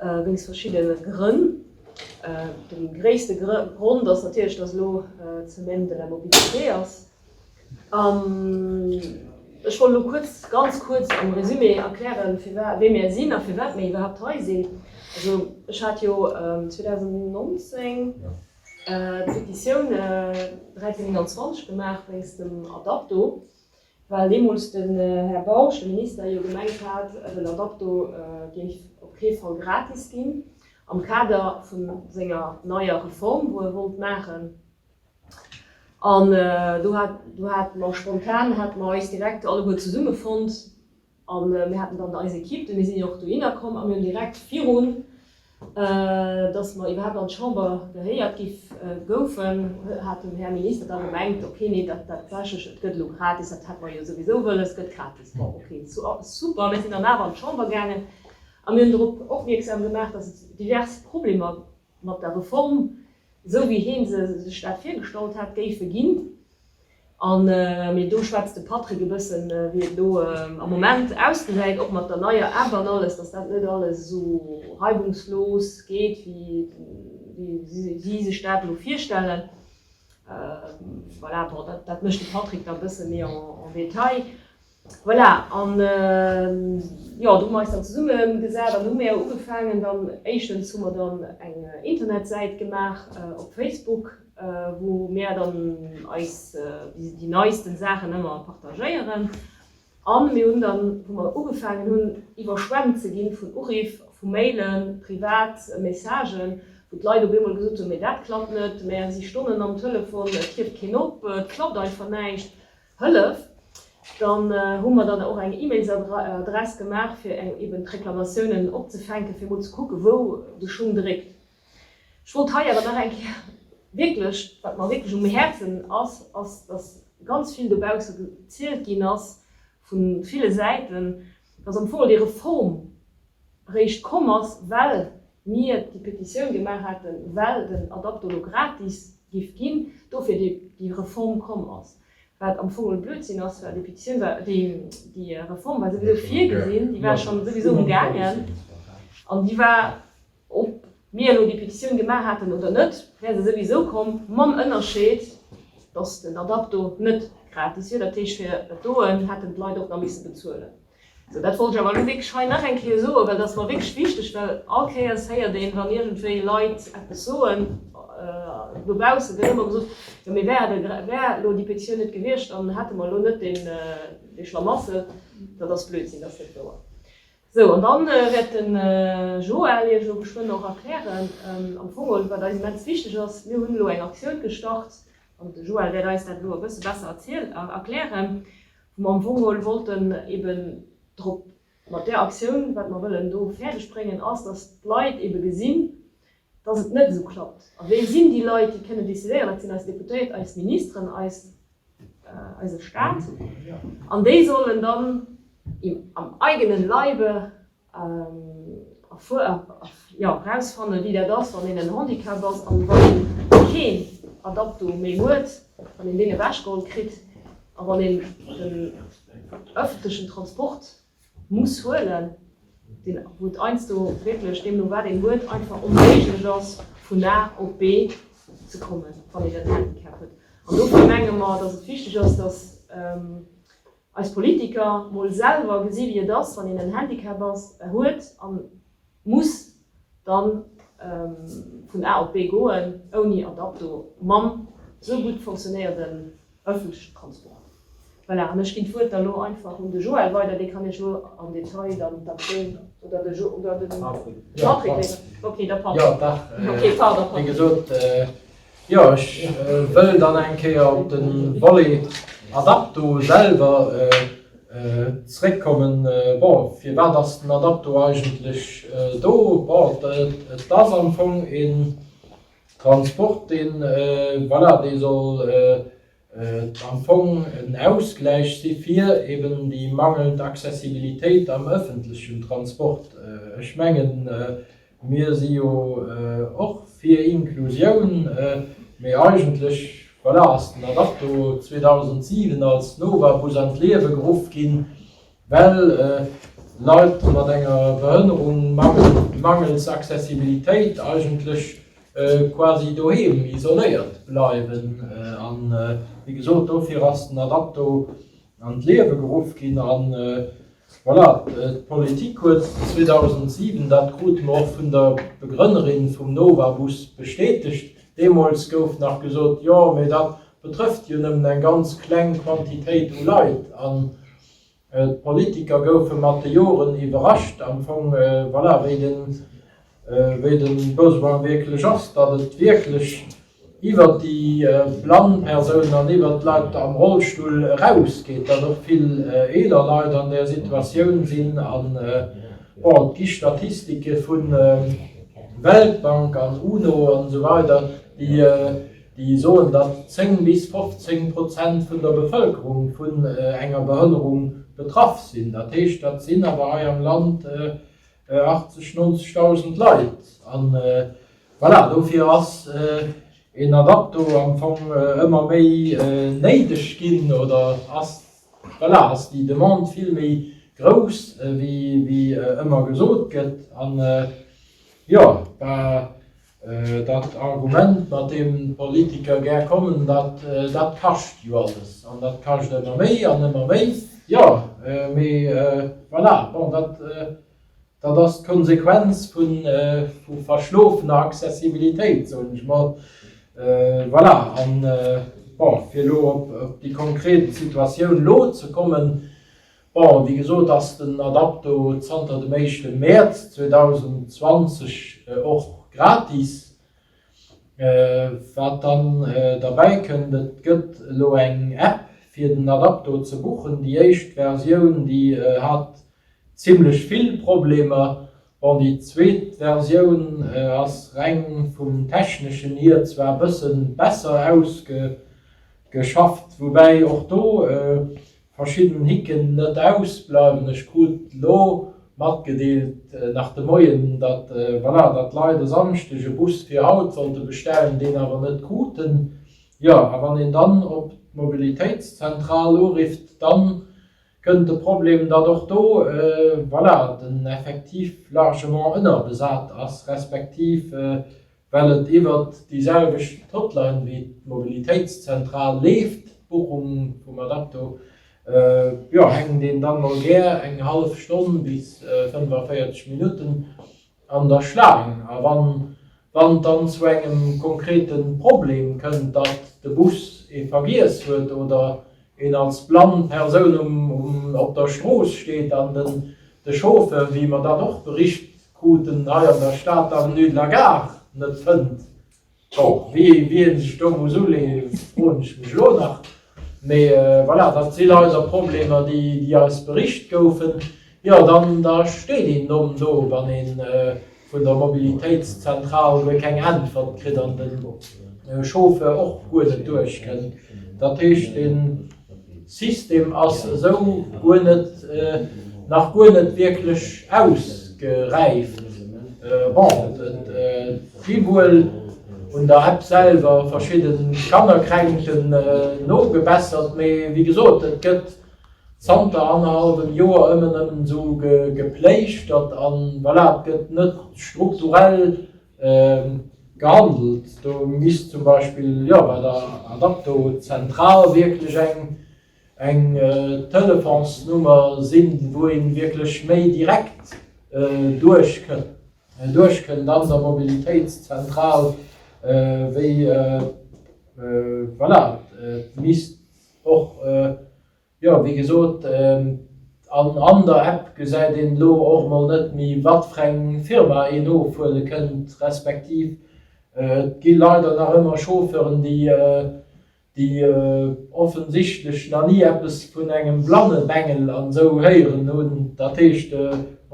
Wéinst verschiddene Grënn. De gréisste Grond ass natierlech, datt elo d'Semaine de la mobilité ass. An ech wollt elo kuerz, ganz kuerz am Résumé erklären, firwat, wie mir sinn a firwat mir iwwerhaapt hei sinn. Also ech hat jo 2019 d'Pétitioun 1321 gemaach wéinst dem Adapto. Well deemools den Här Bausch, de Minister, jo gemengt hat, den Adapto géif op kee Fall gratis ginn, am Kader vu senger neier Reform, wou e wollt maachen. An do hat, do hate mer spontan, hate mer eis direkt alleguer zesummefonnt. A mir haten dann eis Ekipp, du, mir sinn jo och dohinner komm a mir hunn direkt virun, dass mer iwwerhaapt an d'Chamber gehéiert gi goufen, hat den Här Minister da gemengt, okay, nee, dat tatsächlech, et gëtt elo gratis, dat hätt mer jo souwisou wëlles, et gëtt gratis. Bon, okay, super. Mir sinn dann awer an d'Chamber gaangen a mir hunn drop opmierksam gemaach, dass et divers Problemer mat der Reform, esou wéi hee sech dat virgestallt hat, géife ginn. An mee do schwätzt de Patrick e bëssen, wéi et elo am Moment ausgesäit, och mat der neier App an alles, dass dat net alles esou reibungslos geet, wéi si sech dat elo virstellen. Voilà, bon, dat mécht de Patrick da e bësse méi en détail. Voilà, an jo, do hu mer eis dann zesumme gesat an do hu mir ugefaangen, dann éischtens hu mer dann eng Internetsäit gemaach op Facebook, wou mir dann eis déi neisten Saachen ëmmer partagéieren, a mir hunn dann, wou mer ugefaangen hunn iwwerschwemmt ze ginn vun Uriff, vu Mailen, privat Messagen, wou d'Leit op eemol gesot hunn, mee dat klappt net, mir si Stonnen am Telefon, et hieft keen op, et klappt einfach näischt. Hëllef, dann hu mer dann och eng E-Mails-Adress gemaach fir eng eben d'Reklamatiounen opzefänken, fir emol ze kucken, wou de Schung dréckt. Ech wollt hei awer nach eng Kéier wierklech, wat mer wierklech um Häerzen ass, ass, dass ganz vill dobausse gezielt ginn ass vu ville Säiten, dass am Fong déi Reform eréischt komm ass, well mir déi Petitioun gemaach haten, well den Adaptolo gratis géif ginn, dofir déi Reform komm ass, wat am Fong Blödsinn ass, well déi Petitioun war, déi Reform war souwisou virgesinn, déi war schonn souwisou um gaangen an déi war. Ob mir elo déi Petitioun gemaach haten oder net, wär se souwisou komm, mam Ënnerscheed, dass den Adapto net gratis wier. Dat heescht, fir et doen, hätten d'Leit och nach misse bezuelen. Sou, dat wollt ech awer elo wierklech hei nach eng Kéier soen, well dat ass mer wierklech wichteg, well all Kéiers héiert een, wann iergendwéi Leit eppes soen dobaussen, gëtt ëmmer gesot, jo mee wär et, wär elo déi Petitioun net gewiescht, dann hätte mer elo net dee Schlamassel. Dat ass Blödsinn, dat ass net wouer. Sou, an dann wäert de Joël iech elo geschwënn och erklären am Fongol wat eis immens wichteg ass. Mir hunn elo eng Aktioun gestart, an de Joël wäert eis dat elo e bësse besser erziel erklären, wou mer am Fongol wollten eben drop, mat där Aktioun, wat mer wëllen do fäerdeg bréngen ass, dass d'Leit ebe gesinn, dass et net esou klappt a wee sinn déi Leit, déi kënnen decidéieren? Dat sinn eis Deputéiert, eis Ministeren, eis, eise Stat. An déi sollen dann am eigene Leibe erfuer, jo, erausfannen, wéi dat ass, wann een en Handicap ass an wann een keen Adapto méi huet, wann een deen ewechgeholl kritt a wann een den öffentlechen Transport muss huelen, deen, wou d'Einsto wierklech deemno wat een huet, einfach onméiglech ass vun A op B ze kommen, wann een en Handicap huet. An dofir menge mer, datt et wichteg ass, datt eis Politiker mol selwer gesi wéi et ass, wann een en Handicap ass, huet an, Muss dann vun A op B goen ouni Adapto mam sou gutt fonctionnéierden ëffentlechen Transport? Voilà, an ech ginn d'Wuert da lo einfach un de Joël weider, dee kann Iech lo am Detail dann d'Aktioun, oder de Jo, oder de Patrick, Patrick, okay, de Patrick, okay, pardon, Patrick. Jo, ech wëll dann eng Kéier op de Volet Adapto selwer zréckkommen. Bon, firwat ass den Adapto eigentlech do? Bon, et ass am Fong een Transport, dee, voilà, dee soll am Fong en Ausgläich si fir eben déi mangelnd Accessibilitéit am öffentlichen Transport. Ech mengen, mir si jo och fir Inklusioun, mee eigentlech, voilà, ass den Adarto 2007 als Nova-Bus an d'Liewe geruff ginn, Well Leit mat enger Behënnerung mangels Accessibilitéit eigentlech quasi doheem isoléiert bleiwen. A wéi gesot, dofir ass den Adapto an d'Liewe geruff ginn. A voilà, d'Politik huet 2007, dat krute mer och vun der Begrënnerin vum Nova-Bus bestätegt, deemools gouf nach gesot, jo, mee dat betrëfft jo nëmmen eng ganz kleng Quantitéit u Leit. An D'Politiker goufe mat de Joren iwwerrascht am Fong, voilà, wéi de, wéi de Besoin wierklech ass, datt et wierklech iwwert déi blann Persounen an iwwert d'Leit am Rollstull erausgeet, datt och vill eeler Leit an där Situatioun sinn. An, bon, et gi Statistike vu Weltbank an UNO an esou weider, déi, Déi soen, datt 10 bis 15 Prozent vun der Bevëlkerung vun enger Behënnerung betraff sinn. Dat heescht, dat sinn awer hei am Land 80, 90 dausend Leit. A voilà, dofir ass een Adapto am Fong ëmmer méi néideg ginn, oder ass, voilà, ass déi Demande vill méi grouss, wéi ëmmer gesot gëtt. An jo, da Dat Argument, mat deem d'Politiker gär kommen, datt dat kascht jo alles an dat kascht ëmmer méi an ëmmer méi. Jo, mee voilà, bon, dat ass d'Konsequenz vu verschlofener Accessibilitéit, soen ech mol. Voilà, a bon, fir elo op déi konkret Situatioun elo ze kommen, Bon, wéi gesot ass den Adapto zanter dem éischte Mäerz 2020 och gratis. Wat dann derbäi kënnt, et gëtt elo eng App fir den Adapto ze buchen. Déi éischt Versioun déi hat zimmlech vill Problemer. Bon, déi zweet Versioun ass reng vum techneschen hier zwar e bësse besser ausgeschafft, woubäi och do verschidden Hicken net ausbleiwen. Ech krut elo matgedeelt nach de Moien, datt voilà, datt d'Leit e Samschdeg e Bus fir haut sollte bestellen, deen awer net kruten. Jo, a wann een dann op d'Mobilitéitszentral urifft, dann kënnt de Problem, datt och do voilà, den Effectif largement ënnerbesat ass, respektiv, Well et iwwert déi selwecht Hotline wéi d'Mobilitéitszentral leeft, d'Buchung vum Adapto, jo, hänkt een dann mol gär eng hallef Stonn bis 45 Minutten an der Schlaang. A wann et dann zu engem konkrete Problem kënnt, datt de Bus ee vergiess huet oder een als blann Persoun op der Strooss steet an de Chauffeur, wéi mer dann och bericht Kruten hei an der Stad d'Avenue de la Gare net fënnt. Bon, wéi een sech do muss uleeë froen ech mech elo nach. Mee voilà, dat sinn eiser Problemer, déi eis bericht goufen. Jo, dann da steet een Domm do, wann ee vun der Mobilitéitszentral guer keng Äntwert kritt an de Chauffeur och guer net duerchkënnt. Dat heescht, dee. System ass esou guer net, nach guer net wierklech ausgeräift. Bon, et si wuel un der App selwer verschidde Kannerkränkten nogebessert, mee wéi gesot, et gëtt zanter annerhallwem Joer ëmmen ëm esou gepléischtert an voilà, et gëtt net strukturell Gehandelt. Do misst zum Beispill, jo, bei der Adapto-Zentral wierklech eng Telefonsnummer sinn, wou ee wierklech méi direkt duerchkënnt an der Mobilitéitszentral, wéi, voilà, et misst och, Jo, wéi gesot, an der App gesäit een elo och mol net méi, wat fir eng Firma een ofhuele kënnt, respektiv et gi leider nach ëmmer Chauffeuren, déi offensichtlech nach ni eppes vun engem Blannebengel an esou héieren hunn. Dat heescht,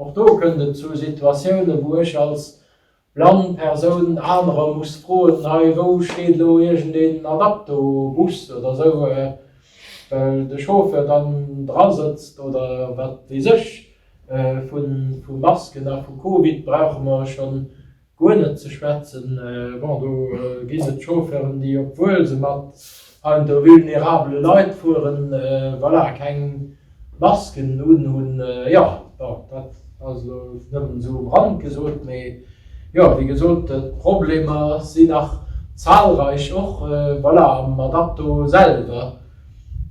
och do kënnt et zu Situatiounen, wou ech als blann Persoun anerer muss froen, hei wou steet elo iergend een Adapto-Bus oder sou, well de Chauffeur dann dra sëtzt oder wat weess ech. Vu Masken a vu Covid brauche mer scho guer net ze schwätzen. Bon, do ginn et Chauffeuren, déi, obwuel se mat An de vulnerabele Leit fueren, voilà, keng Masken un, hunn, jo, bon, dat ass elo nëmmen esou um Rand gesot, mee jo, wéi gesot, d'Problemer sinn nach zahlreich och, voilà, mat Akto selwer.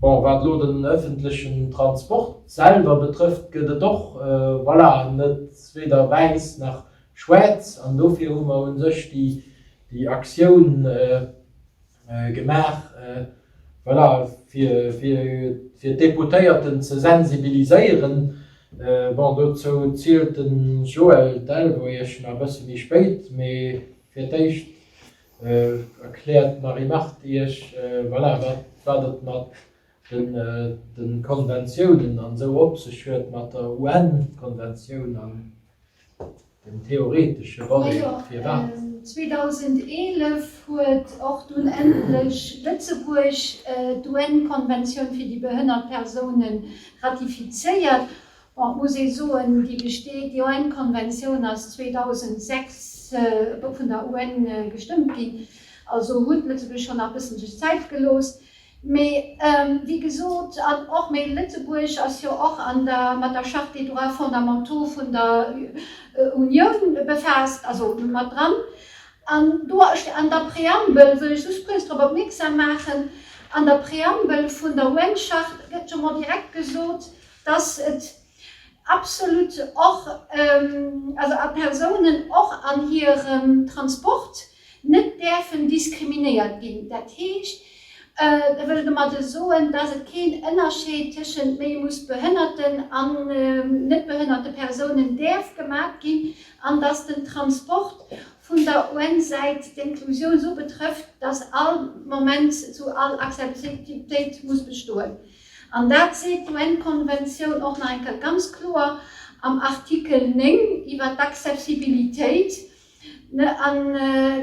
Bon, wat elo den öffentlechen Transport selwer betrëfft, gëtt et och, voilà, net weder wäiss nach schwaarz, an dofir hu mer u sech déi Aktioun, gemaach, voilà, fir d'Deputéierten ze sensibiliséieren. Bon, dozou zielt de Joël Delvoye nach e bësse méi spéit, mee fir d'éischt erkläert d'Marie-Marthe Iech, voilà, wat et mat den de Konventiounen an esou op sech huet, mat der UN-Konventioun an dem theoretesche Volet. Firwat? 2011 huet och dunn endlech Lëtzebuerg d'UN-Konventioun fir déi behënnert Persounen ratifizéiert. Bon, et muss ee soen, déi besteet, déi UN-Konventioun ass 2006 vun der UN gestëmmt ginn, also huet Lëtzebuerg schonn nach bëssen sech Zäit gelooss. Mee wéi gesot, an och, mee Lëtzebuerg ass jo och an der, mat der Charte des droits fondamentaux vun der Unioun befaasst, also mat dran. An do st, an der Preambel, wëll ech just kuerz drop opmierksam maachen, an der Preambel vun der UN-Charte gëtt jo mol direkt gesot, dass et Absolut, och also a Persounen och an hirem Transport net däerfen diskriminéiert ginn. Dat heescht, da wëll ech domat soen, dass et keen Ënnerscheed tëschent méi muss behënnerten an net behënnerte Persounen däerf gemaat ginn an dass den Transport vun der un Säit d'Inklusioun esou betrëfft, dass all Moment esou all Accessibilitéit muss bestoen. An dat seet d'UN-Konventioun och nach eng Kéier ganz kloer am Artikel 9 iwwert d'Accessibilitéit, an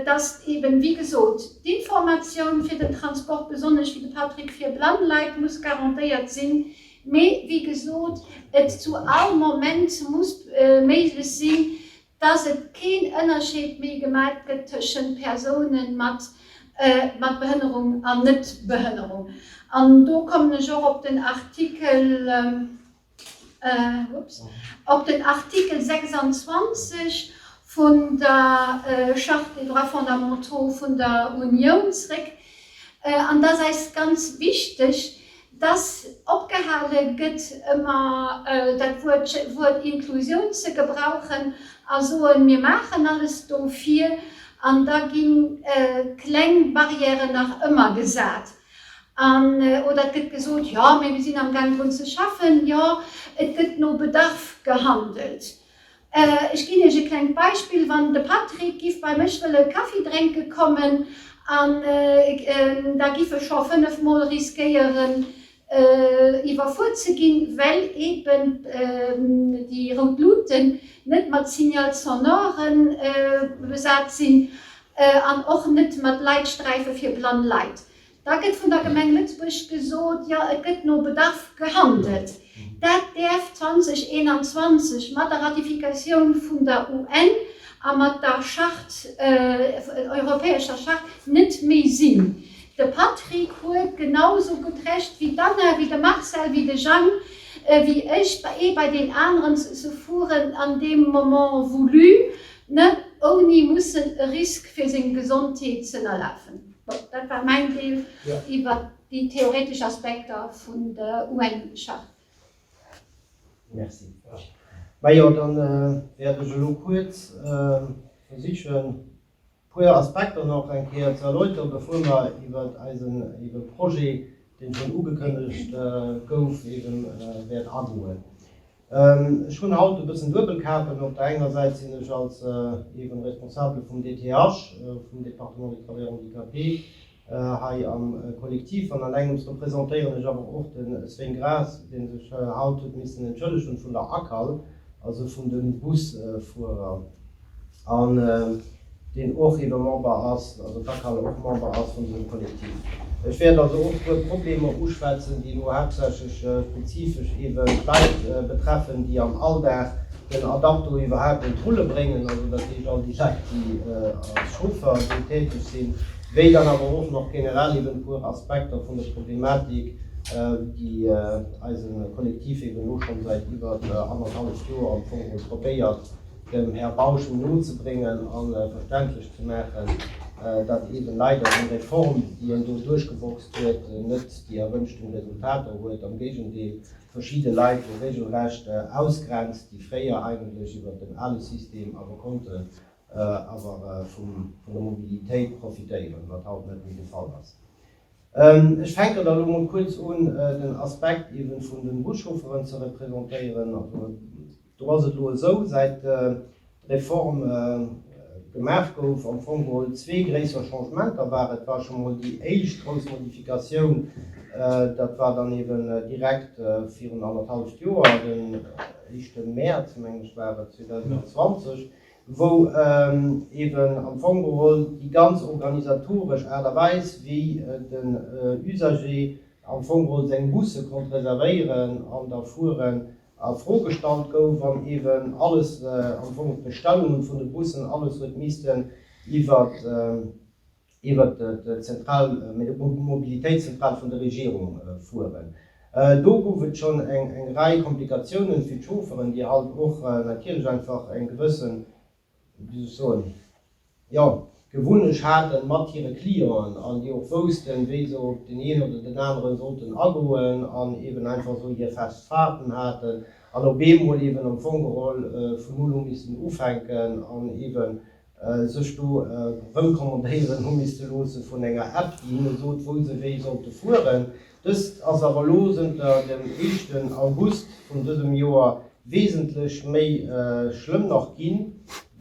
dass eben, wéi gesot, d'Informatioun fir den Transport, besonnesch, wéi de Patrick, fir blann Leit muss garantéiert sinn, mee, wéi gesot, et zu all Moment muss méiglech sinn, dass et keen Ënnerscheed méi gemaat gëtt tëschent Persounen mat mat Behënnerung an Net-Behënnerung. An do kommen ech och op den Artikel, ups, op den Artikel 26 vun der Charte des droits fondamentaux vun der Unioun zréck. An et ass eis ganz wichteg, Dass opgehale gëtt ëmmer dat Wuert Inklusioun ze gebrauchen a soen, mir maachen alles dofir, an da gi kleng Barrièren nach ëmmer gesat. Oder et gëtt gesot, jo, mee mir sinn amgaang drun ze schaffen. Jo, et gëtt no Bedarf gehandelt. Ech ginn iech e klengt Beispill, Wann de Patrick giff bei mech wëlle Kaffi drénke kommen, an da giff e scho 5 mol riskéieren iwwerfuer ze ginn, well eben déi rout Luten net mat Signal sonore besat sinn, an och net mat Leitsträife fir blann Leit. Da gëtt vun der Gemeng Lëtzebuerg gesot, jo et gëtt no Bedarf gehandelt. Dat däerf 2021 mat der Ratifikatioun vun der UN a mat der Charte, europäescher Charte, net méi sinn. De Patrick huet genau esou gutt Recht wéi d'Anna, wéi de Marcel, wéi de Jang, wéi ech, ee bei deen aneren ze se fueren an deem Moment voulu, ouni mussen e Risk fir seng Gesondheet z'ënnerlafen. Bon, dat war mäin Deel iwwer déi theoretesch Aspekter vun der UN-Charte. Merci. Majo, da wäert ech elo kuerz versichen, e puer Aspekter nach eng Kéier ze erläuteren, bevor mer iwwer eisen Projet, dee schonn ugekënnegt gouf, eeben wäert agoen. Ech hunn haut e bëssen Duebelkapen. Op der enger Säit sinn ech als eeben Responsabele vum DTH, vum Département des Travailleurs Handicapés, hei am Kollektiv an allengems representéieren ech awer och de Svein Graas, dee sech haut huet missen entschëllegen vun der ACAL, also vun de Busfuerer. An deen och ebe Member ass, also d'ACAL och Member ass vun dësem Kollektiv. Ech wäert also och e puer Problemer uschwätzen, déi elo haaptsächlech spezifesch ebe Leit betreffen, déi am Alldag den Adapto iwwerhaapt un d'Rulle bréngen, also dat heescht all déi Leit, déi als Chauffer do täteg sinn, wéi dann awer och nach generell ebe e puer Aspekter vun der Problematik, déi eise Kollektiv ebe elo scho säit iwwert annerhalleft Joer am Fong probéiert, dem Här Bausch no ze bréngen a verständlech ze maachen, datt eeben leider déi Reform, déi en do duerchgeboxt huet, net déi erwënschten Resultater huet, am Géigendeel, verschidde Leit do regelrecht ausgrenzt, déi fréier eigentlech iwwert den ale System awer konnten awer vum, vun der Mobilitéit profitéieren, wat haut net méi de Fall ass. Ech fänken da lo mol kuerz un, den Aspekt eeben vun den Buschaufferen ze représentéieren. Do ass et elo esou, säit d'Reform gemaach gouf, am Fong geholl zwee gréisser Changementer waren. Et war scho mol déi éischt grouss Modifikatioun, dat war dann eeben direkt virun annerhalleft Joer, den éischte Mäerz, meng ech war et, 2020, wou eeben am Fong geholl déi ganz organisatoresch Aart a Weis, wéi den Usager am Fong geholl seng Busse konnt reservéieren an da fueren, a Fro gestallt gouf an eben alles am Fong, d'Bestellungen vun de Bussen, alles huet missten iwwert iwwert d'Zentral, d'Mobilitéitszentral vun der Regierung fueren. Do gouf et schonn eng Rei Komplikatiounen fir d'Chaufferen, déi halt och natierlech einfach eng gewëssen wéi soll ech soen, jo, Gewunnesch haten mat hire Clienten an déi och woussten, wéi se op den een oder den aneren sollten agoen an eben einfach esou hir fest Fahrten haten an op eemol eben am Fong geholl vun Null u missten ufänken an eben sech do rëmkommandéieren hu misste loosse vun enger App, déi hinne sot, wou se wéi sollte fueren. Dëst ass awer elo zënter dem éischten August vun dësem Joer wesentlech méi schlëmm nach ginn,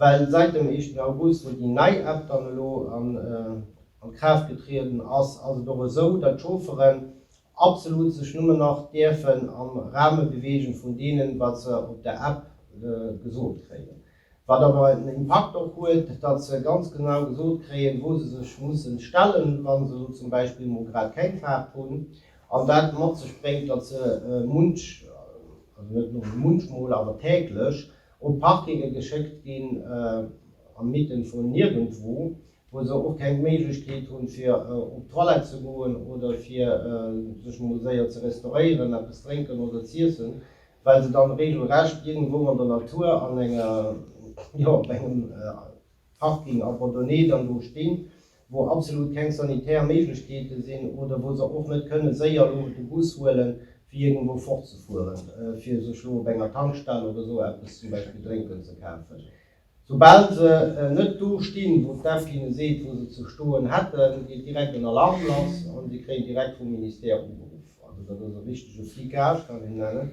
well säit dem éischten August, wou déi nei App dann elo an Kraaft getrieden ass, ass et och esou, datt d'Chaufferen absolut sech nëmmen nach däerfen am Rahme beweegen vun deenen, wat se op der App gesot kréien. Wat awer en Impakt och huet, datt se ganz genau gesot kréien, wou se sech mussen stellen, wa se elo zum Beispill mol grad keng Faart hunn. An dat mat sech bréngt, datt se munch, also net nëmmen munchmol, awer täglech op Parkinge geschéckt ginn, am Mitten vun nirgendwo, wou se och keng Méiglechkeet hunn, fir op d'Toilette ze goen oder fir sech mol séier ze restauréieren, eppes drénken oder z'iessen. well se dann regelrecht iergendwou an der Natur an enger, jo, op engem Parking abandonné dann do stinn, wou absolut keng sanitär Méiglechkeete sinn oder wou se och net kënne séier elo de Bus huelen, fir iergendwou fortzefueren, fir sech elo op enger Tankstell oder esou eppes zum Beispill drénken ze kafen. Soubal se net do stinn, wou d'EFF hinne seet, wou se ze stoen hätten, geet direkt en Alarm lass an si kréien direkt vum Ministère ugeruff. Also dat ass e richtege Flicage, kann een nennen,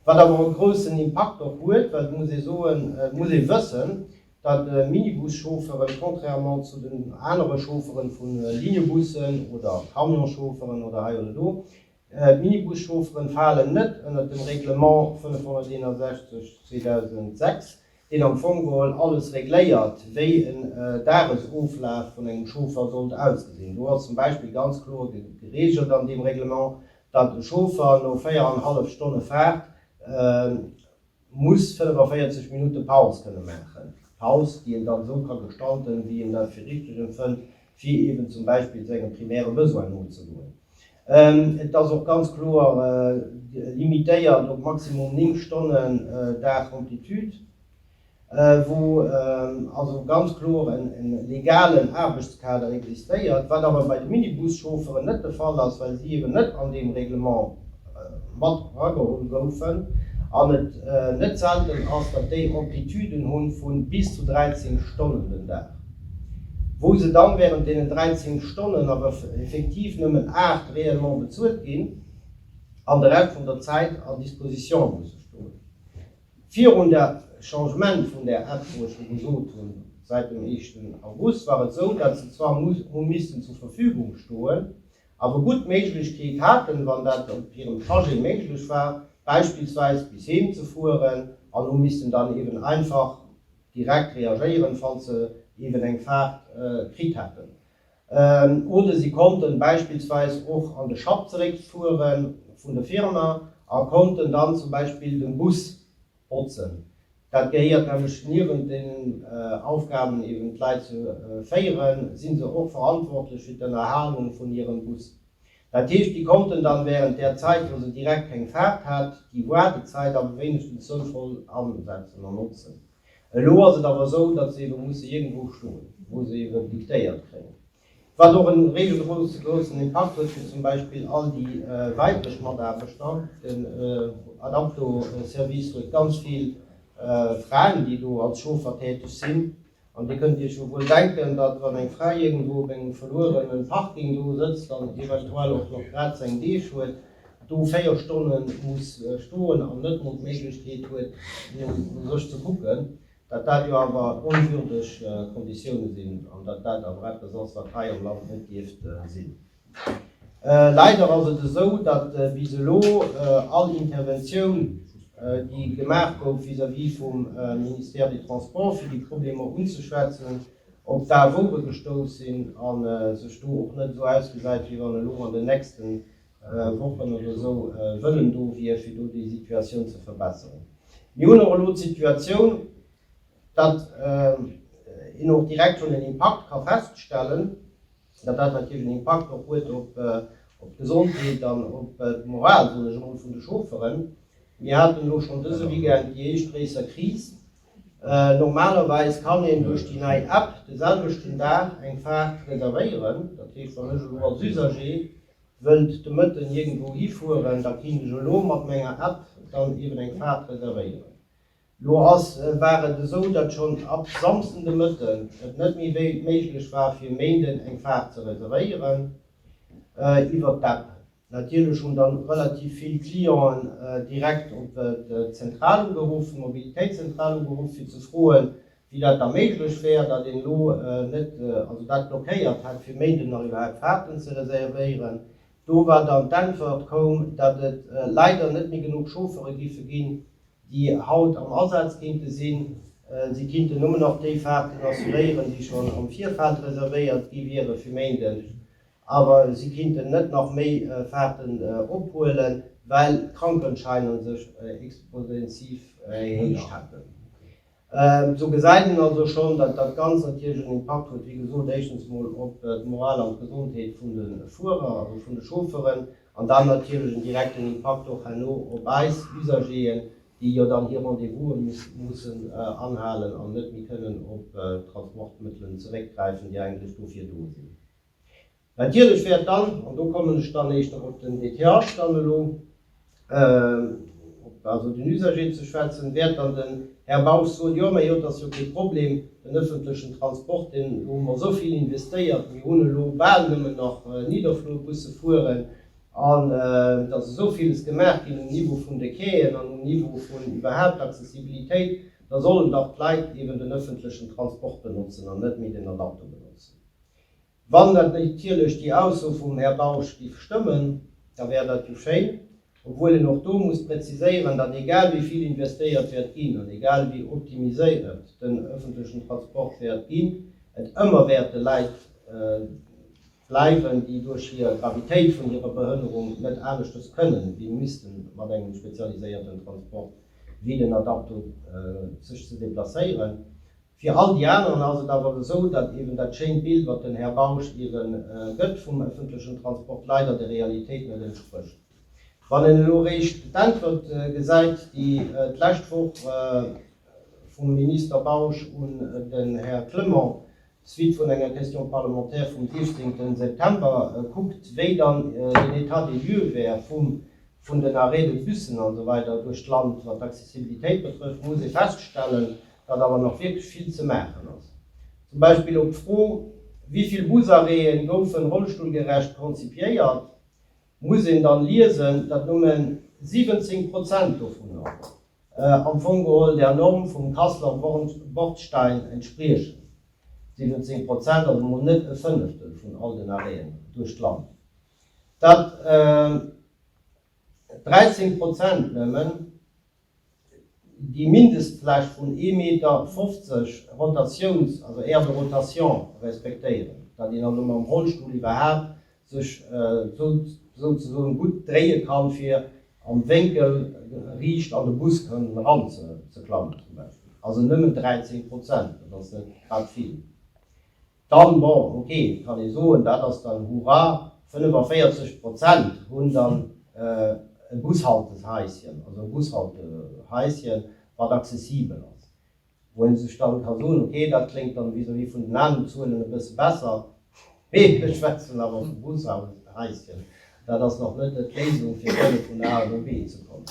wat awer e groussen Impakt och huet, well et muss ee soen, et muss ee wëssen, datt Minibus-Chaufferen, contrairement zu den anere Chaufferen vu Linebussen oder Camion-Chaufferen oder hei oder do, D'Minibus-Chaufferen falen net ënnert dem Reglement 561, 2006, deen am Fong geholl alles regléiert, wéi en Dagesoflaf vun engem Chauffer sollt ausgesinn. Do ass zum Beispill ganz kloer geregelt an deem Reglement, datt e Chauffer no véier an hallef Stonne Faart muss 45 Minutte Paus kënne maachen, Paus, déi een dann esou ka gestalten, wéi een dat fir richteg empfënnt, fir eeben zum Beispill senge primäre Besoine nozegoen. Et ass och ganz kloer limitéiert op maximum 9 Stonnen Dag Amplitude, wou also ganz kloer e legalen Aarbechtskader existéiert, wat awer bei de Minibus-Chaufferen net de Fall ass, well si eeben net an deem Règlement, mat erageholl goufen, an et net selten ass, datt déi Amplituden hunn vu bis zu 13 Stonnen den Dag, wou se dann während deenen 13 Stonnen awer effektiv nëmmen 8 réellement bezuelt ginn an de Rescht vun der Zäit à disposition musse stoen. Virun der Changement vun där App, wou ech jo gesot hunn, säit dem éischten August war et esou, datt se zwar hu missten zur Verfügung stoen, awer gutt d'Méiglechkeet haten, wann dat op hirem Trajet méiglech war, beispillsweis bis heem ze fueren, an hu missten dann eeben einfach direkt reagéieren, falls se eeben eng Faart kritt haten. Oder si konnten beispillsweis och an de Schapp zeréckfuere vun der Firma a konnten dann zum Beispill de Bus Botzen. Dat gehéiert nämlech niewent deenen Aufgaben eben d'Leit ze féieren, si se och verantwortlech fir d'Ënnerhalung vun hirem Bus. Dat heescht, déi konnten dann während där Zäit, wou se direkt keng Faart hat, déi Woardezäit awer wéinegstens souvoll asetzen an notzen. Elo ass et awer esou, datt se ebe musse iergendwou stoen, wou se eben diktéiert kréien. Wat och en réigelgroussen Impakt huet fir zum Beispill all déi weiblech Mataarbechter. Den Adapto-Service huet ganz vill Fraen, déi do als Chauffer täteg sinn. An Dir kënnt Iech jo wuel denken, datt wann eng Fra iergendwou op engem verluerenen Parking do sëtzt an eventuell och nach grad seng Deeg huet, do véier Stonne muss stoen an net mol d'Méiglechkeet huet no sech ze kucken, Datt dat jo awer onwürdeg Konditioune sinn an datt dat awer eppes ass, wat hei am Land net dierft sinn. Leider ass et esou, datt bis elo all Interventioun, déi gemaach gouf vis-à-vis vum Ministère des Transports, fir déi Problemer unzeschwätzen, op d'Awouere gestouss sinn a sech do och net esou ausgesäit, wéi wann elo an den nächsten Wochen oder esou Wëllen do wier, fir do déi Situatioun ze verbesseren. Mir hunn och elo d'Situatioun, datt een och direkt schonn en Impakt ka feststellen, datt dat natierlech en Impakt och huet op d'Gesondheet an op d'Moral, soen ech emol, vun de Chaufferen. Mir haten elo schonn dëse Weekend déi éischt gréisser Kris. Normalerweis kann een duerch déi nei App de selwechten Dag eng Faart reservéieren. Dat heescht, wann ech elo als Usager Wëllt de Mëtten iergendwou hifueren, da kint ech elo mat menger App dann eben eng Faart reservéieren. Lo ass, war et esou, datt schonn ab Samsden de Mëtten et net méi méiglech war fir Méinden eng Faart ze reservéieren iwwert d'App. Natierlech hunn dann relativ vill Clienten direkt op d'Zentral ugeruff, d'Mobilitéitszentral ugeruff fir ze froen, wéi dat da méiglech wär, datt een elo net, also dat blockéiert hätt, fir Méinden nach iwwerhaapt Faarten ze reservéieren. Do war dann d'Äntwert koum, datt et leider net méi genuch Chauffere géife ginn, déi haut am Asaz kéinte sinn. Si kinnten nëmmen nach déi Faarten assuréieren, déi schonn am Virfeld reservéiert gi wiere fir Méinden, awer si kinnten net nach méi Faarten ophuelen, well d'Krankenscheiner sech exponentiv erhéicht hätten. Sou gesäit een also schonn, datt dat Ganzt natierlech en Impakt huet, wéi gesot, éischtens emol op d'Moral an d'Gesondheet vun de Fuerer, also vun de Chaufferen, an dann natierlech en direkten Impakt och herno op eis Usagéeën, déi jo dann hir Rendez-vouse mussen anhalen an net méi kënnen op Transportmëttelen zeréckgräifen, déi eigentlech dofir do sinn. Natierlech wäert dann, an do kommen ech dann éischter op den DTH dann elo, op also den Usager ze schwätzen, wäert dann den Här Bausch soen, jo, mä jo, et ass jo kee Problem, den öffentlechen Transport, deen, do hu mer esou vill investéiert, mir hunn elo bal nëmmen nach Niederflurbusse fueren, an et ass esou villes gemaach ginn um Niveau vun de Quaien an um Niveau vun iwwerhaupt d'Accessibilitéit, da sollen dach d'Leit eeben den öffentlechen Transport benotzen an net méi den Adapto benotzen. Wann dat natierlech déi Ausso vum Här Bausch giff stëmmen, da wär dat jo schéin, obwuel een och do muss präziséieren, datt egal wéi vill investéiert wäert ginn an egal wéi optimiséiert den öffentlechen Transport wäert ginn, et ëmmer wäerte Leit bleiwen, déi duerch hir Gravitéit vun hirer Behënnerung net aneschters kënnen, wéi misste mat engem spezialiséierten Transport wéi den Adapto sech ze deplacéieren. Fir all déi aneren ass et awer esou, datt eben dat schéint Bild, wat den Här Bausch iwwe gëtt vum öffentlechen Transport, leider der Realitéit net entsprécht. Wann een elo réischt d'Äntwert gesäit, déi d'lescht Woch vum Minister Bausch un den Här Clement, Suite vun enger Question parlementaire vum 16. September, kuckt, wéi dann den État des lieux wär vum vun den Arrêts de busen an esou weider duerch d'Land, wat d'Accessibilitéit betrëfft, muss ee feststellen, datt awer nach wierklech vill ze maachen ass. Zum Beispill op d'Fro, Wéi vill Busarrêtë goufen rollstullgerecht konzipiéiert? muss een dann liesen, datt nëmme 17 Prozent dovunner am Fong geholl der Norm vum Kasseler Bordstein entspriechen. 17 Prozent ass emol net e Fënneftel vun all den Arrêten duerch d'Land. Datt 13 Prozent nëmmen déi Mindestfläch vun ee Meter fofzeg Rotatiouns-, also Aire de rotation, respektéieren, datt een also mam Rollstull iwwerhaapt sech souzesoen gutt dréie kann, fir am Wénkel riicht an de Bus kënnen eranzeklammen zum Beispill. Also nëmmen 13 Prozent, dat ass net grad vill. Dann, bon, ok, kann ee soen, dat ass dann hurra, 45 Prozent hunn dann e Bushalteshaischen, also e Bushaltehaischen, wat accessibel ass. Wou ee sech dann ka soen, ok, dat kléngt dann vis-à-vis vun den aneren Zuelen e bësse besser, mee ech schwätzen awer vu Bushaltehaischen, dat ass nach net d'Léisung, fir kënne vun A no B ze kommen.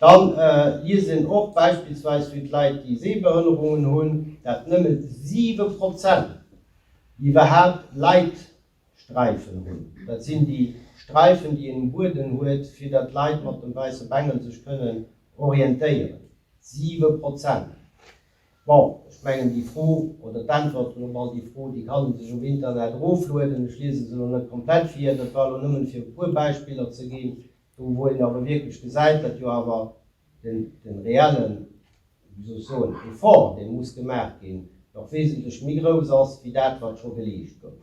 Dann liest een och beispillsweis fir d'Leit déi Sehbehënnerungen hunn, dat nëmmen 7 Prozent iwwerhaapt Leitsträifen hunn. Dat sinn déi Sträifen déi een um Bueden huet fir datt d'Leit mat dem wäisse Bengel sech kënnen orientéieren. 7 Prozent! Bon, ech mengen déi Fro oder d'Äntwert hunn op all déi Fro déi kann ee sech um Internet eroflueden. Ech liese se elo net komplett vir, dat war elo nëmmen fir e puer Beispiller ze ginn. Do wou een awer wierklech gesäit, datt jo awer de reellen, wéi soll ech soen, Effort, dee muss gemaach ginn, nach wesentlech méi grouss ass wéi dat, wat scho geleescht gouf.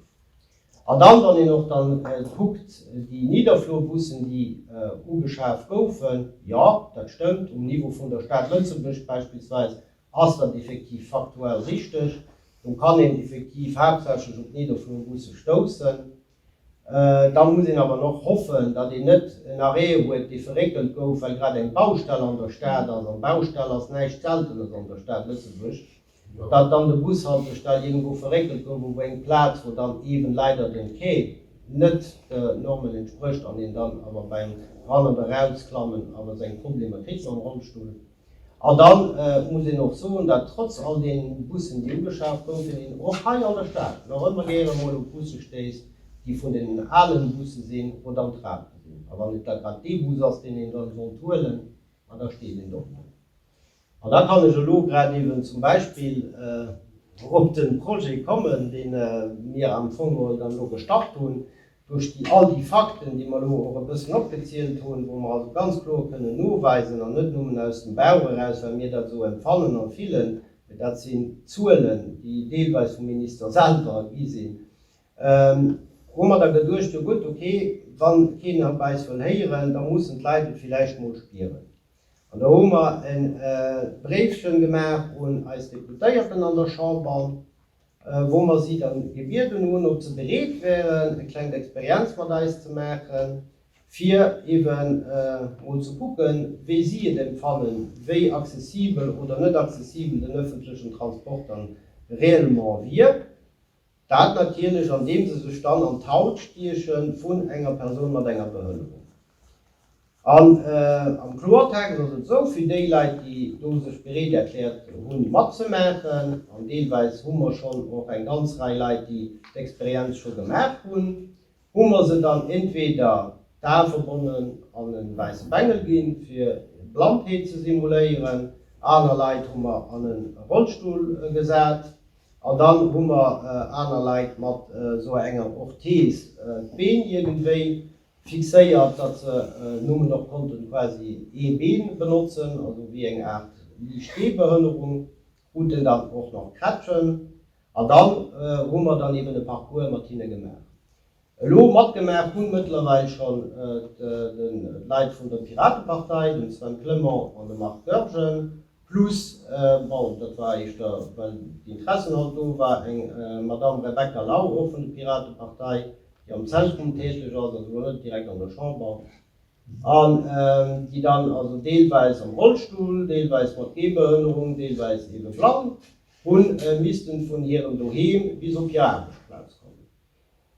An dann, wann een och dann kuckt, déi Niederflurbussen, déi ugeschaf goufen, jo, dat stëmmt, um Niveau vun der Stad Lëtzebuerg beispillsweis ass dat effektiv faktuell richtig, do kann een effektiv haaptsächlech op d'Niederflurbusse stoussen, Dann muss een awer och hoffen, datt een net en Arrêt huet, dee verréckelt gouf, well grad eng Baustell an der Stad ass, an Baustell ass näischt Seltenes an der Stad Lëtzebuerg, datt dann de Bushaltestell iergendwou verréckelt gouf op eng Plaz, wou dann eeben leider den Quai net de Normen entsprécht an een dann awer beim Ran oder Rausklammen awer seng Problemer kritt mam Rollstull. An da muss een och soen, datt trotz all deene Bussen, déi ugeschaaft goufen, een och hei an der Stad nach ëmmer gäre mol op Busse stéisst, déi vun deenen ale Busse sinn oder am Trabant sinn. A wann et da grad dee Bus ass, deen een dann sollt huelen, ma da steet een och do. An da kann ech elo grad eeben zum Beispill op de Projet kommen, dee mir am Fong geholl dann elo gestart hunn, Duerch déi all déi Fakten, déi mer elo och e bëssen opgezielt hunn, wou mer also ganz kloer kënnen noweisen, an net nëmmen aus dem Bauch eraus, well mir dat esou empfannen an fillen, mee dat sinn Zuelen, déi deelweis vum Minister selwer gi sinn, hu mer da geduecht, jo gutt, okay, wa keen op eis wëll héieren, da mussen d'Leit et villäicht emol spieren. An do hu mer e Bréifchen gemaach un eis Deputéierten an der Chamber. wou mer si dann gebieden hunn, ob se bereet wären, e klengt Experienz mat eis ze maachen, fir eben mol ze kucken, wéi si et empfannen, wéi accessibel oder net accessibel den öffentlichen Transport dann réellement wier. Dat natierlech, andeem se sech dann an d'Haut stiechen vun enger Persoun mat enger Behënnerung. An am Kloertext ass et esou, fir déi Leit, déi do sech bereet erkläert hunn, matzemaachen, an deelweis hu mer schonn och eng ganz Rei Leit, déi d'Experienz scho gemaach hunn, hu mer se dann entweder d'Ae verbonnen an e wäisse Bengel ginn, fir Blindheet ze simuléieren, aner Leit hu mer an e Rollstull gesat an dann hu mer aner Leit mat esou enger Orthese d'Been iergendwéi fixéiert, datt se Nummen och konnten quasi ee Been benotzen, also wéi eng Aart liicht Gehbehënnerung kruten der och nach Krätschen. An dann hu mer dann eben e Parcours mat hinne gemaach. Elo matgemaach hu mëttlerweil schonn d'Leit vun der Piratepartei, den Sven Clement an de Marc Goergen, Plus, bon, dat war éischter, well d'Interessen halt do war, eng Madamm Rebecca Lau, och vun de Piratepartei, déi am Zentrum täteg ass, also elo net direkt an der Chamber, an déi dann also deelweis am Rollstull, deelweis mat Gehbehënnerung, deelweis eebe blann, hu missten vun hirem Doheem bis op hir Aarbechtsplaz kommen.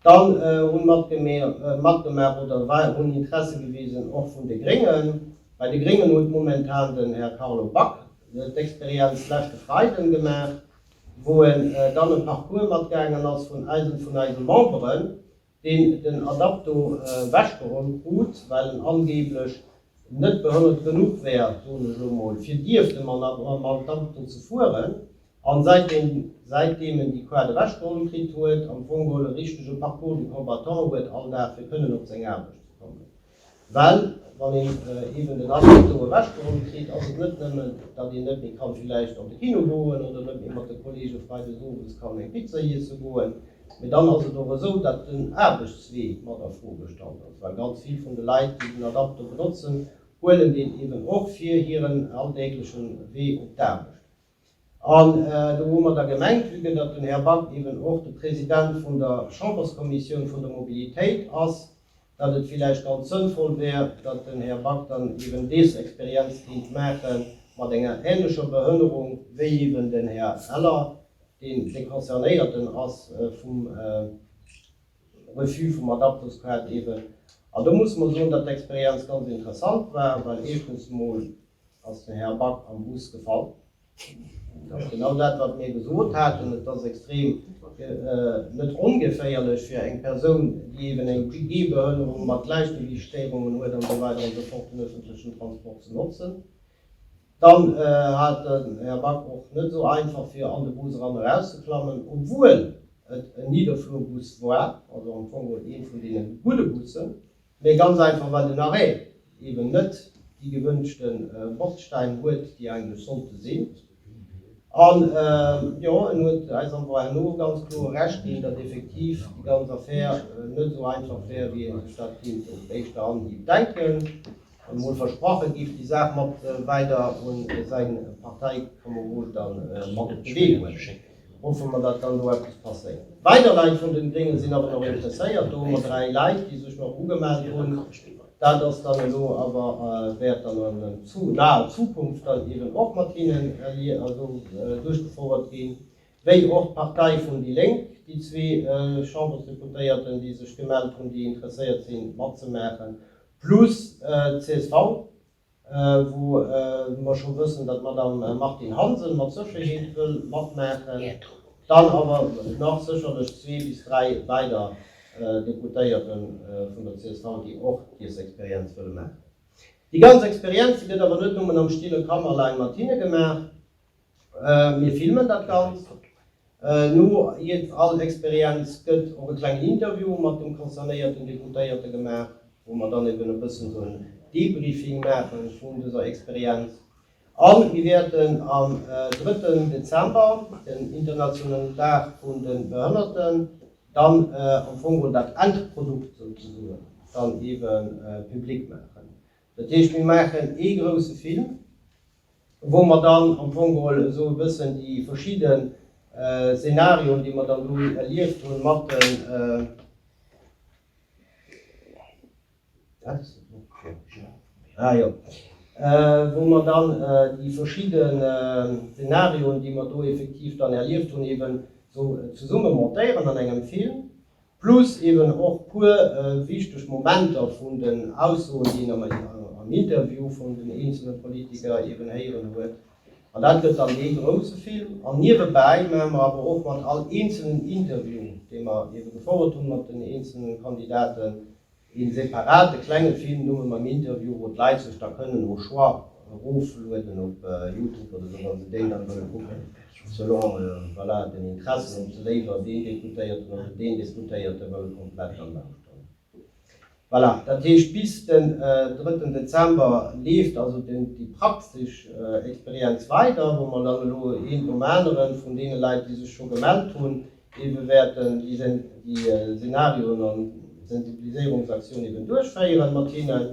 Dann hu matgemaach oder hunn Interesse gewisen och vun de Gréngen. Bei de Gréngen huet momentan den Här Carlo Back d'Experienz leschte Freiden gemaach, wou en dann e Parcours matgaangen ass vun eisen, vun eise Memberen, deen den Adapto wechgeholl krut, well en angeblech net behënnert genuch wär, soen ech elo mol, fir dierfte mam Adapto ze fueren. An säitdeem säitdeem en déi Qual ewechgeholl kritt huet, am Fong mol e richtege Parcours du combattant huet all Dag fir kënnen op seng Aarbecht ze kommen. Well wann een eben den Abri do ewechgeholl kritt, ass et net nëmmen, datt een net méi kann villäicht an de Kino goen oder net méi mat de Kollege freides owes kann eng Pizza iesse goen, mee dann ass et och esou, datt den Aarbechtswee mat a Fro gestallt ass, well ganz vill vun de Leit, déi den Adapter benotzen, huelen deen eben och fir hiren alldäglechen Wee op d'Aarbecht. An do hu mer da gemengt, vue que datt den Här Back eben och de President vun der Chamberskommissioun vun der Mobilitéit ass, datt et villäicht ganz sënnvoll wär, datt den Här Back dann eben dees Experienz kéint maache mat enger ähnlecher Behënnerung wéi eben den Här Eller, deen de Concernéierten ass vum Refus vum Adaptosquat eben. An do musse mer soen, datt d'Experienz ganz interessant war, well éischtens emol Ass de Här Back am Bus gefall? Dat ass genau dat, wat mir gesot haten. Et ass extrem net ongeféierlech fir eng Persoun, déi eeben eng Gehbehënnerung mat Gläichgewiichtsstéierungen huet an esou weider an esou fort, den öffentlechen Transport ze notzen. Dann hat den Här Back och net esou einfach, fir an de Bus eran erauszeklammen, obwuel et en Niederflurbus war, also am Fong e vun deene gudde Bussen. Mee ganz einfach well den Arrêt eben net déi gewënschte Bordstein huet déi eigentlech sollte sinn. An jo, en huet eis am Point herno ganz kloer Recht ginn, datt effektiv déi ganz Affär net esou einfach wär wéi ee sech dat kéint op éischte Anhieb denken. Emol versprache giff déi Saach mat weider un säi Parteikamerod dann mat op de Wee bréngen. Hoffe mer, datt dann do eppes passéiert. Weider Leit vun den Gréngen sinn awer nach interesséiert. Do hu mer dräi Leit, déi sech nach ugemellt hunn. Dat ass dann elo awer wäert dann an naher Zukunft dann eben och mat hinnen duerchgefouert ginn, wéi och d'Partei vun déi Lénk, déi zwee Chambersdeputéierten, déi sech gemellt hunn, déi interesséiert sinn matzemaachen, plus d'CSV, wou mer scho wëssen, datt d'Madame Martine Hansen mat Sécherheet wëll matmaachen, dann awer nach sécherlech zwee bis dräi weider Deputéierte vun der csv, déi och dës Experienz wëlle maachen. Déi ganz Experienz, déi gëtt awer net nëmmen am stille Kammerlein mat hinne gemaach. Mir filmen dat Ganzt. No jiddwer all Experienz gëtt och e klengen Interview mat dem concernéierten Deputéierte gemaach, wou mer dann eben e bëssen esou en Debriefing maache vun dëser Experienz. A mir wäerten am drëtten Dezember, den internationalen Dag vun de Behënnerten, dann am Fong geholl dat Endprodukt souzesoen dann eebe public maachen. Dat heescht, mir maachen ee grousse Film, wou mer dann am Fong geholl esou e bëssen déi verschidde Szenarioen, déi mer dann do erlieft hunn, mat den, ah jo, wou mer dann déi verschidde Szenarioen, déi mer do effektiv dann erlieft hunn, eeben esou zesumme montéieren an engem Film. Plus eben och puer wichteg Momenter vun den Aussoen, déi een am Interview vun den eenzele Politiker eben héieren huet. An dat gëtt dann ee grouse Film. An niewebäi maache mer awer och mat all eenzelen Interview, dee mer eben gefouert hunn mat den eenzele Kandidaten, Een separate klenge Film no mengem Interview wou d'Leit sech da kënnen au choix eroflueden op Youtube oder sou wann se deen dann wëlle kucken selon voilà den Interessen, ob se léiwer deen Deputéierten oder deen Deputéierte wëlle komplett dann lauschteren. Voilà, dat heescht bis den drëtten Dezember leeft also déi praktesch Experienz weider, wou mer dann elo een nom aneren vun deene Leit déi sech scho gemellt hunn, Déi bewäerten déi Szenarioen an d'Sensibiliséierungsaktioun eben duerchféieren mat hinnen.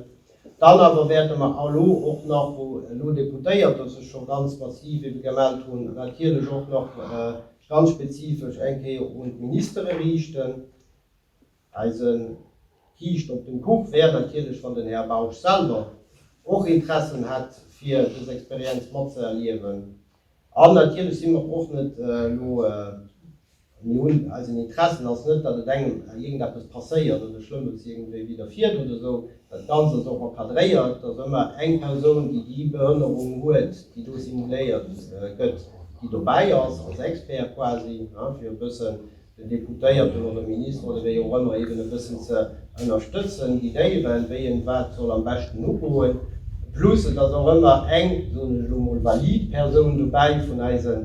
Dann awer wäerte mer elo och nach, wou elo Deputéierter sech scho ganz massiv ebe gemellt hunn, natierlech och nach ganz spezifesch eng Kéier un d'Ministere riichten. Eise Kiischt op dem Kuch wär natierlech, wann den Här Bausch selwer och Interessen hätt, fir dës Experienz matzëerliewen. An natierlech si mer och net elo, mir hunn, eisen Interessen ass net, datt et engem iergendeppes passéiert oder Schlëmmes iergendwéi widderfiert oder esou. Dat Ganzt ass och encadréiert, datt ëmmer eng Persoun, déi déi Behënnerung huet, déi do simuléiert gëtt, déi dobäi ass, als Expert quasi, fir e bëssen den Deputéierten oder Minister oder wéi och ëmmer eben e bëssen ze ënnerstëtzen, guidéieren, wéi en wat soll am beschten ugoen. Plus et ass och ëmmer eng, soen ech elo mol, valid Persoun dobäi vun eise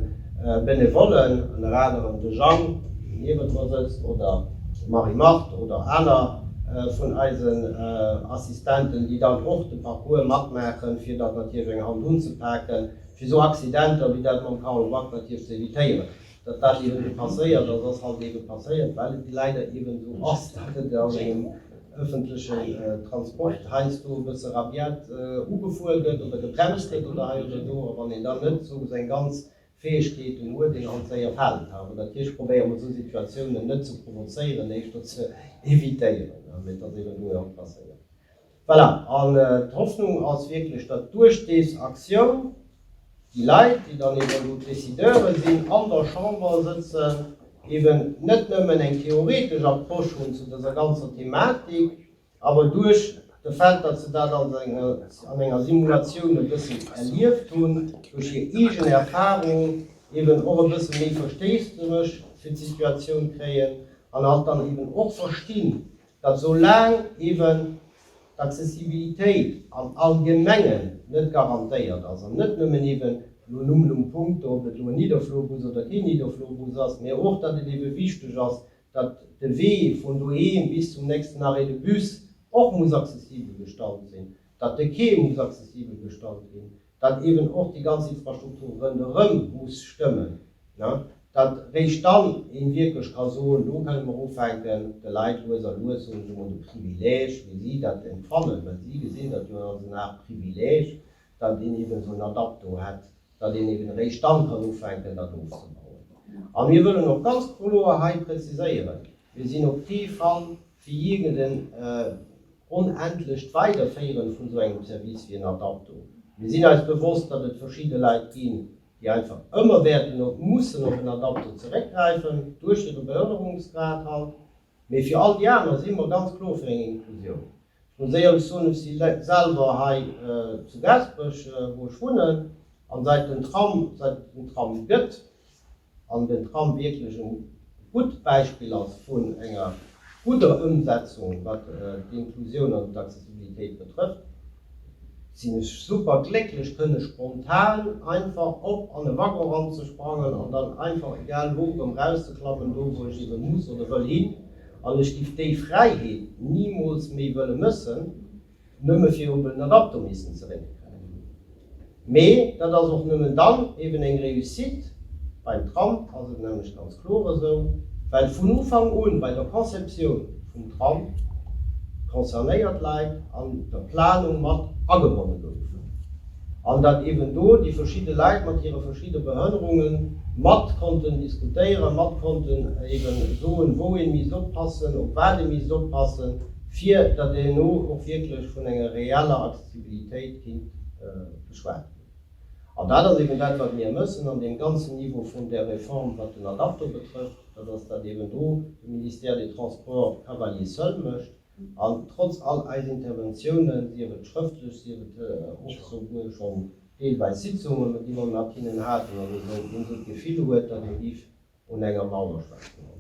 Benevollen, ënner anerem de Jang, deen niewent mer sëtzt, oder d'Marie-Marthe oder aner vun eisen Assistenten, déi dann och de Parcours matmaachen, fir datt natierlech eng Hand unzepaken, fir esou Accidenter wéi dat mam Carlo Back natierlech ze evitéieren. Datt dat eben passéiert, datt ass halt eben passéiert, well et leider eben esou ass, datt et a sengem öffentlechen Transport heiansdo e bësse rabiat ugefuer gëtt oder gebremst gëtt oder hei oder do. A wann een dann net esou seng ganz Fäegkeeten huet, deen halt séier falen kann. An natierlech probéiere mer esou Situatiounen net ze provozéieren, éischter ze evitéieren. Mee et ass eben elo jo och passéiert. Voilà, an d'Hoffnung ass wierklech, datt duerch des Aktioun déi Leit, déi dann eben do d'Décideuren sinn, an der Chamber sëtzen, eben net nëmmen eng theoretesch Approche hunn zu dëser ganzer Thematik, awer duerch de Fait, datt se dat als eng, an enger Simulatioun e bëssen erlieft hunn, duerch hir eegen Erfahrung eben och e bësse méi Versteesdemech fir d'Situatioun kréien an halt dann eben och verstinn, datt esou laang eben d'Accessibilitéit am Allgemengen net garantéiert ass, an net nëmmen eben elo nummlum punkto, ob et elo en Nidderflurbus oder keen Nidderflurbus ass, mä och datt et ebe wichteg ass, datt de Wee vun doheem bis zum nächsten Arrêt de bus och muss accessibel gestalt sinn, datt de Quai muss accessibel gestalt ginn, datt eben och déi ganz Infrastruktur ronderëm muss stëmmen, datt réischt dann ee wierklech ka soen, elo kënne mer ufänken de Leit lues a lues, soen ech emol, de Privileeg, wéi si dat empfannen, well si gesinn dat jo als eng Aart Privileeg, datt een eben esou en Adapt do hätt, datt een eben réischt dann kann ufänken dat ofzebauen. A mir wëllen och ganz kloer hei präziséieren, mir sinn op kee Fall Fir jee gëtt en onendlecht Weiderféieren vun esou engem Service wéi en Adapto. Mir sinn eis bewosst, datt et verschidde Leit ginn, déi einfach ëmmer wäerten mussen op en Adapto zeréckgräifen, duerch hire Beförderungsgrad halt. Mee fir all déi aner si mer ganz kloer fir eng Inklusioun. Ech muss éierlech soen, ech si selwer hei zu Gaasperech, wou ech wunnen, an säit den Tram, säit et den Tram gëtt, an den Tram wierklech e gutt Beispill ass vun enger gudder Ëmsetzung, wat d'Inklusioun an d'Accessibilitéit betrëfft, sinn ech super glécklech kënne spontan einfach op an e Waggon eranzesprangen an dann einfach egal wou erëm rauszeklammen, do wou ech ebe muss oder wëll hin. An ech giff déi Fräiheet nimools méi wëlle mëssen. Nëmme fir op en Adapter missen zeréckgräifen. Mee dat ass och nëmmen dann eben eng Réussite, beim Tram ass et nämlech ganz kloer esou, well vun Ufank un bei der Conceptioun vum Tram concernéiert Leit an der Planung mat agebonne goufen an dat eben do déi verschidde Leit mat hire verschidde Behënnerunge mat konnten diskutéieren, mat konnten eben soen, wou ee misst oppassen, op wat ee misst oppassen. fir datt een elo och wierklech vun enger reeller Accessibilitéit kinnt geschwat ginn. An dat ass eben dat, wat mir mëssen an deem ganzen Niveau vun där Reform, wat den Adapto betrëfft, dat ass dat eben do de Ministère des Transports cavalier seul mécht an trotz all eis Interventiounen, sief et schrëftlech, sief et och souguer schonn deelweis Sitzungen, déi mer mat hinnen haten an esou, een esou d'Gefill huet, datt ee géif un enger Mauer schwätzen.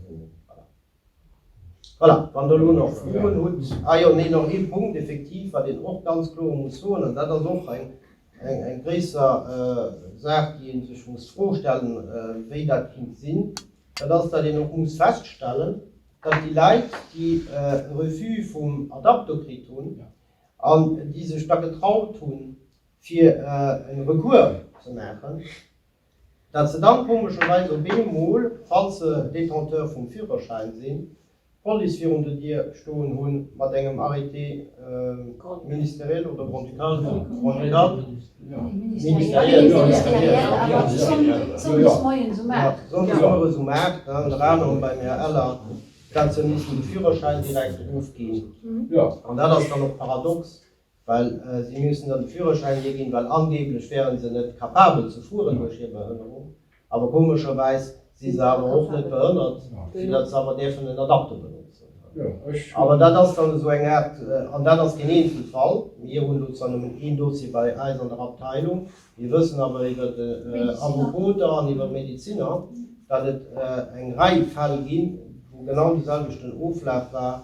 Voilà, wann Der elo nach Froen hutt. Ah jo, nee, nach ee Punkt, effektiv, wat een och ganz kloer muss soen, an dat ass och eng gréisser Saach, déi ee sech muss d'Fro stellen, wéi dat kéint sinn, dat ass, datt een och muss feststellen, datt déi Leit, déi e Refus vum Adapto kritt hunn an déi sech da getraut hunn, fir e Recours ze maachen, Datt se dann komescherweis op ee Mol, falls se Détenteur vum Führerschäin sinn, d'Police virun der Dier stoen hunn, mat engem Arrêté ministériel oder grand-ducal, grand-ducal? ministériel, jo, sonndes mueres um 8, ënner anerem beim Här Eller, datt se mussen de Führerschäin direkt erofginn. An dat ass dann och paradox, Well si mussen dann de Führerschäin hir ginn, well angeeblech wären se net capabel ze fueren duerch hir Behënnerung. Awer komescherweis si se awer och net behënnert, fir datt se awer däerfen en Adapter benotzen. Awer dat ass dann esou eng Aart, an dat ass keen Eenzelfall, mir hunn elo zwar nëmmen een Dossier bei eis an der Abteilung, mir wëssen awer iwwer Avopoter an iwwer Medeziner, datt et eng Rei Fäll ginn, wou genau de selwechten Oflaf war,